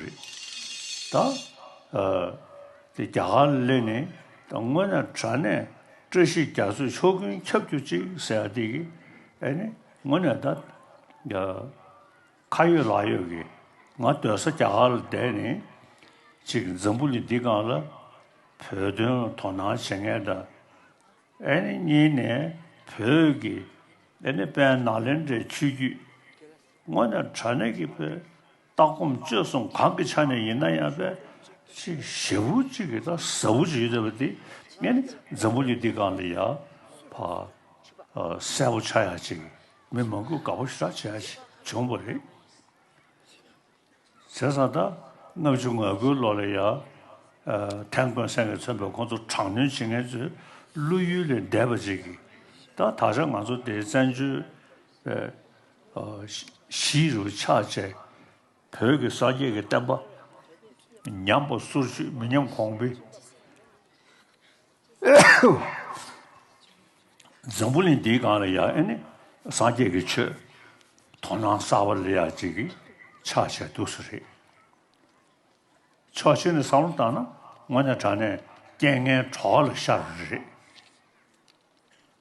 རེད་ད། དེ་རྒྱ་གར་གླེང་ནི་ད་དངོས་ན་དྲ་གནས་བཀྲ་ཤིས་རྒྱ་མཚོས་ཕྱོགས་ཀུན་ཁྱབ་རྒྱུ་ཅིག་ཟེར་ཡ་དེ་གི་ཨེ་ནི་དངོས་ནས་ད། ཁ་ཡོད་ལག་ཡོད་ཀི་ང་སྡོད་ས་རྒྱ་གར་ལ་བསྡད་ནི་ཅིག་འཛམ་བུ་གླིང་འདི་སྒང་ལ་བོད་དོན་ལ་དོ་སྣང་བྱེད་ངེས་ད། ཨེ་ནི་གཉིས་ནས་བོད་ཀི་ཨེ་ནི་དཔལ་ནཱ་ལེནྡྲའི་ཆོས་བརྒྱུད་དངོས་ནས་དྲ་གནས་ཀི་བོད། ལྟ་སྒོམ་སྤྱོད་གསུམ་གང་གི་ཆ་ནས་ཡིན་ན་ཡང་པའི་ཆེས་ཞེ་བོ་གཅིག་གི་དང་ཟབ་བོ་གཅིག་ཡོད་ཟེར་བ་དེ་ངས་ནི་འཛམ་བུ་གླིང་འདི་གང་ལ་ཡང་བ་གསལ་བོ་ཆགས་ཡ་ཅིག་མི་མང་པོས་དགའ་བོ་ཞེ་དྲག་བྱེད་ཡ་ཞིག་བྱུང་བ་རེད། བྱས་ཙང་ད་ལྔ་བཅུ་ང་དགུའི་ལོ་ལ་ཡང་ཐན་ཀོན་སེང་གེས་མཚོན་པའི་ཁོང་ཚོ་དྲག་གནོན་བྱེད་མཁན་ཚོའི་བློ་ཡུལ་ལས་འདས་པ་ཅིག་གིས་ད་ད་ཆ་ང་ཚོ་དེའི་བཙན་བྱོལ་བཞི་རུ་ཆགས་བཅས་བོད་ཀྱི་སངས་རྒྱས་ཀྱི་བསྟན་པ་ཉམས་པ་སོར་ཆུད་མི་ཉམས་གོང་འཕེལ། འཛམ་བུ་གླིང་འདིའི་སྒང་ལ་ཡང་ཨེ་ནི་སངས་རྒྱས་ཀྱི་ཆོས་དོ་སྣང་གསར་བ་ལེགས་ཡག་ཅིག་གིས་ཆགས་བཅས་འདུག་ས་རེད། ཕྱོགས་གཅིག་ནས་བསམ་བློ་བཏང་ན་དངོས་གནས་དྲང་གནས་རྐྱེན་ངན་གྲོགས་ལ་ཤར་བ་རེད།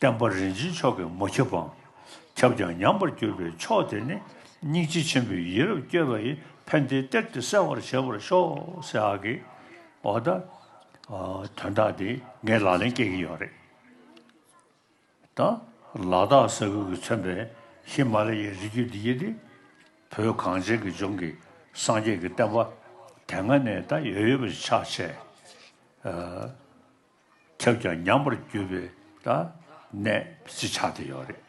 བསྟན་པ་རིན་ཆེན་མཆོག་གི་མོ་ཁྱབ་བམ། ཁྱབ་ཀྱང་ཉམས་པར་གྱུར་པའི་མཆོག་དེ་ནི། སྙིང་རྗེ་ཆེན་པོའི་ཡིད་རབ་བསྐྱོད་པ་ཡི། ཕན་བདེའི་གཏེར་དེ་གསལ་བར་བྱེད་པར་ཤོག། སེ་ཨ་ཀི། འོ་ད། དོན་དག་འདི་ངས་ལག་ལེན་སྐྱེལ་གྱི་ཡོད་རེད་ད། ལ་དྭགས་ས་ཁུལ་གྱིས་མཚོན་པའི་ཧི་མ་ལ་ཡའི་རི་རྒྱུད་འདི་ཡིན་ཏེ། བོད་གངས་ཅན་གྱི་ལྗོངས་ཀྱི་སངས་རྒྱས་ཀྱི་བསྟན་པ་དེ་སྔ་ནས་ད་ཡོད་ཡོད་པ་ཞིག་ཆགས་ཆེ། ཁྱབ་ཀྱང་ཉམས་པར་གྱུར་པའི་གནས་ཞེས་བྱ་སྟེ་ཡོད་རེད།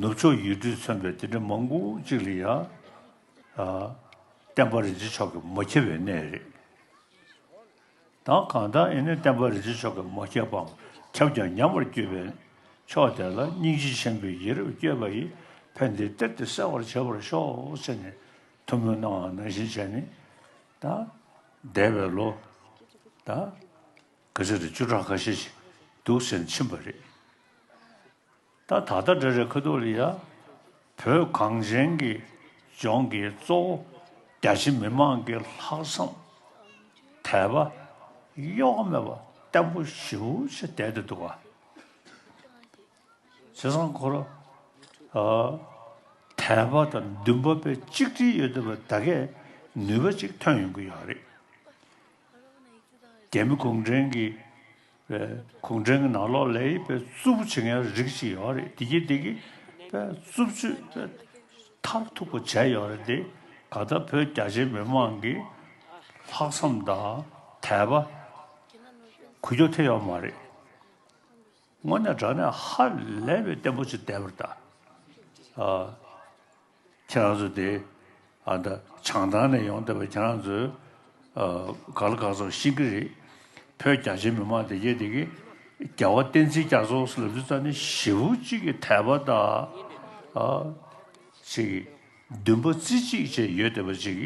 ནུབ་ཕྱོགས་ཡུལ་གྲུས་མཚོན་པའི་དེ་འདྲ་མང་པོ་ཅིག་ལ་ཡང་བསྟན་པ་རིན་ཆེན་མཆོག་གིས་མ་ཁྱབ་པའི་གནས་རེད། གང་ལྟར་ཡིན་ནའི་བསྟན་པ་རིན་ཆེན་མཆོག་གིས་མ་ཁྱབ་པའམ་ཁྱབ་ཀྱང་ཉམས་པར་གྱུར་པའི་ཕྱོགས་དེ་ལ་སྙིང་རྗེ་ཆེན་པོའི་ཡིད་རབ་བསྐྱེད་པ་ཡིས་ཕན་བདེའི་གཏེར་དེ་གསལ་བར་བྱེད་པར་ཤོག་ཅེས་ནས་ཐུན་མོང་སྣང་བ་ན་ཞེས་བྱ་ནི། འདས་པའི་ལོ། ག་ཚོད་དུ་བཅུ་ཕྲག་ཁ་ཤས་ཤིག་འདུག་ཟེར་ཕྱིན་པ་རེད། ད་ད་ལྟ་འདྲ་རེ་ཁ་ཐུག་ལ་ཡ། བོད་གངས་ཅན་གྱི་ལྗོངས་ཀྱི་གཙོ་བོ་རྒྱ་ཆེ་མི་མང་གི་ལྷག་བསམ། དད་པ། གཡོ་ཀ་མེད་པ་བརྟན་པོ་ཞེ་བོ་ཆེ་དད་དུ་འདུག་ག། ཚེ་རང་འཁོར་ལོ་དལ་བ་དང་བདུན་པ་པའི་གཅིག་སྒྲིལ་ཡོད་དོ་བའི་ད་གས་ནུས་པ་ཅིག་ཐོན་ཡོང་གི་ཡོད་རེད། རྒྱ་མི་གུང་བྲན་གྱི་གུང་བྲན་གྱི་ནང་ལོག་ལས་ཡིད་པའི་རྩུབ་པོ་བྱེད་མཁན་རིགས་ཅིག་ཡོད་རེད་དེ་གྱིས་དེ་གི་པའི་རྩུབ་སྤྱོད་པའི་མཐར་ཐུག་པ་བྱས་ཡོད་རེད་དེ་ག་ད་བོད་རྒྱ་ཆེ་མི་མང་གི་ལྷག་བསམ་དང་དད་པ་གུ་གྱོ་ཐེབས་ཡོད་མ་རེད། སྔོན་ནས་བསྒྲགས་ནས་ཧ་ལས་པའི་བརྟན་པོ་ཅིག་བསྡད་པར་གདའ། ཁྱེད་རང་ཚོ་དེ་བྱང་ཐང་ནས་ཡོང་བསྡད་པ་ཁྱེད་རང་ཚོས་ག་ལ་ག་ཚོར་ཤེས་ཀྱི་རེད། བོད་རྒྱ་ཆེ་མི་མང་དེ་རྒྱལ་དེ་གི་རྒྱལ་བ་བསྟན་འཛིན་རྒྱ་མཚོ་ལབ་རྒྱུ་ཙམ་ནི་ཞེ་བོ་གཅིག་གི་དད་པ་དང། ཅིག་འདུན་པ་རྩེ་གཅིག་བཅས་ཡོད་བསྡད་པ་ཅིག་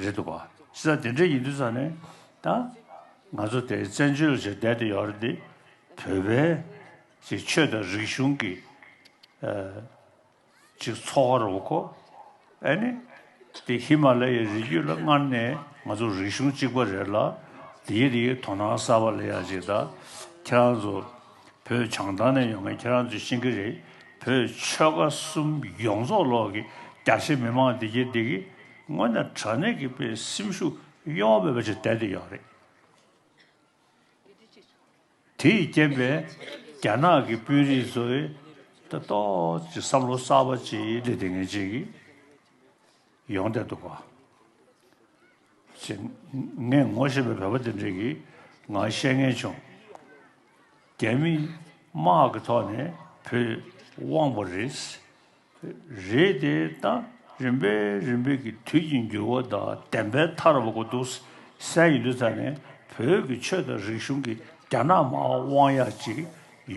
རེད་འདུག་བ། ཤེས་ཚ་དེ་འདྲ་ཡིན་དུས་ཙམ་ནས་ད་ང་ཚོ་དེ་བཙན་བྱོལ་ཞེས་བསྡད་དེ་ཡོད་རེད་དེ། བོད་པའི་ཚེ་ཆོས་དང་རིག་གཞུང་གི་ཅིག་འཚོ་བ་རོལ་གོ་ཨེ་ནི་དེ་ཧི་མ་ལ་ཡའི་རི་རྒྱུད་ལ་སྔར་ནས་ང་ཚོ་རིག་གཞུང་གཅིག་པ་རེད་ལ་དེའི་རིགས་དོ་སྣང་གསར་པ་ལ་ཡ་ཅིག་ད་ཁྱེད་རང་ཚོ་བོད་བྱང་ཐང་ནས་ཡོང་མཁན་ཁྱེད་རང་ཚོས་ཤེས་ཀྱི་རེད་བོད་ཆོལ་ཁ་གསུམ་ཡོངས་རྫོགས་ལོག་གི་རྒྱ་ཆེ་མི་མང་འདི་གྱི་འདི་གི་སྔོན་ནས་དྲ་གནས་ཀྱི་པའི་སེམས་ཤུགས་གཡོ་བ་མེད་པ་ཅིག་བསྡད་འདི་ཡོད་རེད། དེ་ཡི་རྐྱེན་པས་རྒྱ་ནག་གི་དཔོན་རིགས་ཚོས་ལྟ་རྟོག་ཀྱི་བསམ་བློ་གསར་པ་ཅིག་སླེབས་ཏེ་ངེས་ཅན་གྱི་ཡོང་བསྡད་འདུག་པ། ངས་ངོ་ཤེས་པའི་བོད་པ་དེ་འདྲས་ཀྱིས་ང་བཤད་ངེས་བྱུང། རྒྱ་མི་དམག་གི་ཐོག་ནས་བོད་དབང་བོ་རེད། རེད་དེ་ད་རིམ་པས་རིམ་པས་ཀྱི་དུས་ཀྱི་འགྱུར་བ་དག་བདེན་པའི་མཐར་འོང་གི་འདུག་སའི་ཡུལ་ཙམ་ནས་བོད་ཀྱི་ཆོས་དང་རིག་གཞུང་གི་རྒྱ་ནག་མའང་དབང་ཡག་ཅིག་ཡོད།